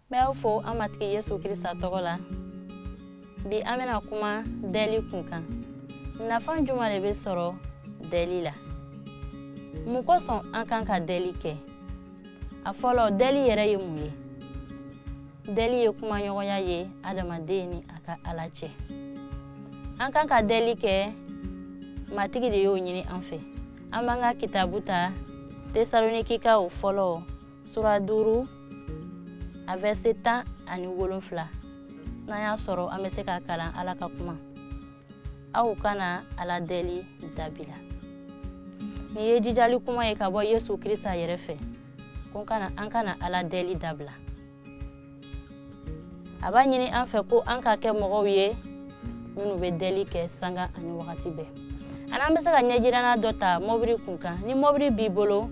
n bɛ aw fo an matigi yesu krista tɔgɔ la bi an bɛna kuma dɛli kun kan nafa juman le bɛ sɔrɔ dɛli la mun kosɔn an kan ka dɛli kɛ a fɔlɔ dɛli yɛrɛ ye mun ye dɛli ye kumaɲɔgɔnya ye adamaden ni a ka ala cɛ an kan ka dɛli kɛ matigi de y'o ɲini an fɛ an b'an ka kitabu ta tesalonikikaw fɔlɔ sura duuru a vɛrse tan ani wolonfila n'an y'a sɔrɔ an bɛ se k'a kalan ala ka kuma aw kana ala dɛli dabila nin ye jijali kuma ye ka bɔ yesu krista yɛrɛ fɛ ko an kana ala dɛli dabila a b'a ɲini an fɛ ko an ka kɛ mɔgɔw ye minnu bɛ dɛli kɛ sanga ani wagati bɛɛ ani an bɛ se ka ɲɛjirana dɔ ta mɔbili kun kan ni mɔbili b'i bolo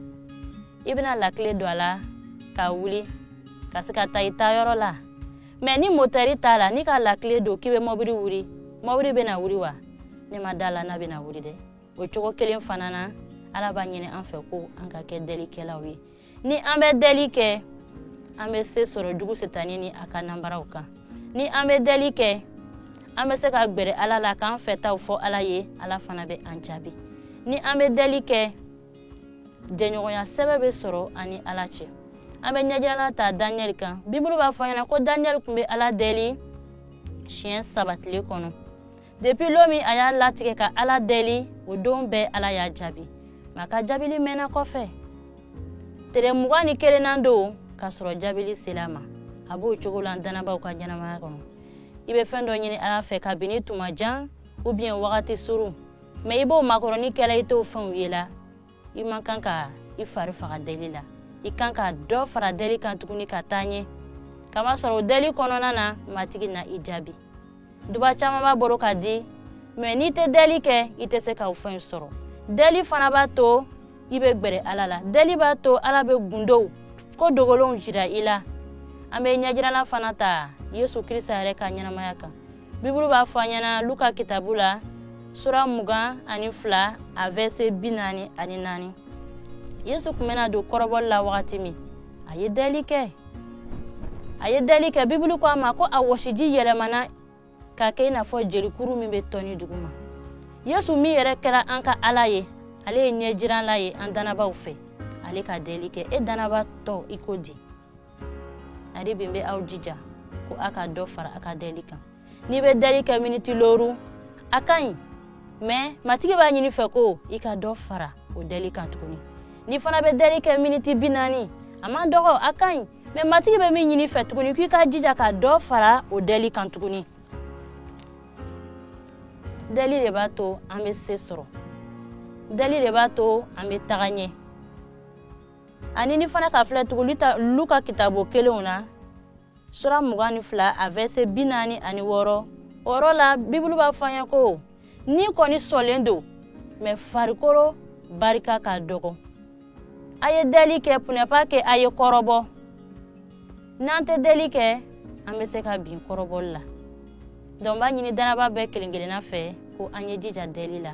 i bɛna lakile don a la ka wuli ka se ka taa i taa yɔrɔ la mɛ ni motɛri t'a la n'i ka lakile don k'i bɛ mɔbili wuli mɔbili bɛna wuli wa ne ma d'a la n'a bɛna wuli dɛ o cogo kelen fana na ala b'a ɲini an fɛ ko an ka kɛ dɛlikɛlaw ye ni an bɛ dɛli kɛ an bɛ se sɔrɔ jugu setani ni a ka nanbaraw kan ni an bɛ dɛli kɛ an bɛ se ka gbɛrɛ ala la k'an fɛtaw fɔ ala ye ala fana bɛ an jaabi ni an bɛ dɛli kɛ jɛɲɔgɔnya sɛbɛ bɛ sɔrɔ an ni ala cɛ an bɛ ɲɛjirala ta daniyɛli kan bibulu b'a fɔ an ɲɛna ko daniyɛli kun bɛ ala dɛli siɲɛ saba tile kɔnɔ depuis lon min a y'a latigɛ ka ala dɛli o don bɛɛ ala y'a jaabi mɛ a ka jaabili mɛnna kɔfɛ tere mugan ni kelennan don ka sɔrɔ jaabili sela a ma a b'o cogo la danabaw ka ɲɛnamaya kɔnɔ i bɛ fɛn dɔ ɲini ala fɛ kabini tuma jan ubiyɛn wagati surun mɛ i b'o makɔrɔni kɛ la i t'o fɛnw ye la i man kan ka i fari faga deli la i kan ka dɔ fara deli kan tuguni ka taa ɲɛ k'a masɔrɔ deli kɔnɔna na matigi na i jaabi duba caman b'a bolo ka di mɛ n'i tɛ deli kɛ i tɛ se ka o fɛn sɔrɔ deli fana b'a to i bɛ gbɛrɛ ala la deli b'a to ala bɛ gundow ko dogolenw jira i la an bɛ ɲɛjirala fana ta yesu krista yɛrɛ ka ɲɛnamaya kan bibulu b'a fɔ an ɲɛna luka kitabu la sura mugan ani fila a vɛrse bi naani ani naani yesu kun bɛna don kɔrɔbɔli la wagati min a ye dɛli kɛ a ye dɛli kɛ bibulu ko a ma ko a wɔsiji yɛlɛmana ka kɛ i n'a fɔ jelikuru min bɛ tɔni duguma yesu min yɛrɛ kɛra an ka ala ye ale ye ɲɛjiranla ye an danabaw fɛ ale ka dɛli kɛ e danaba tɔ i ko di ari bin bɛ aw jija ko a ka dɔ fara a ka dɛli kan n'i bɛ dɛli kɛ miniti loru a ka ɲi mɛ matigi b'a ɲini i fɛ ko i ka dɔ fara o dɛli kan tuguni n'i fana bɛ dɛli kɛ miniti bi naani a man dɔgɔ a ka ɲi mɛ matigi bɛ min ɲini i fɛ tuguni k'i ka jija ka dɔ fara o dɛli kan tuguni dɛli le b'a to an bɛ se sɔrɔ dɛli le b'a to an bɛ taga ɲɛ ani n'i fana k'a filɛ tuguni ta luka kitabu kelen na sura mugan ni fila a vɛse bi naani ani wɔɔrɔ o yɔrɔ la bibulu b'a fɔ an ye ko ni kɔni sɔnlen don mɛ farikolo barika ka dɔgɔ a ye dɛli kɛ pour ne pas que a ye kɔrɔbɔ n'an tɛ dɛli kɛ an bɛ se ka bin kɔrɔbɔli la donc n b'a ɲini dannaba bɛɛ kelen kelenna fɛ ko an ye jija dɛli la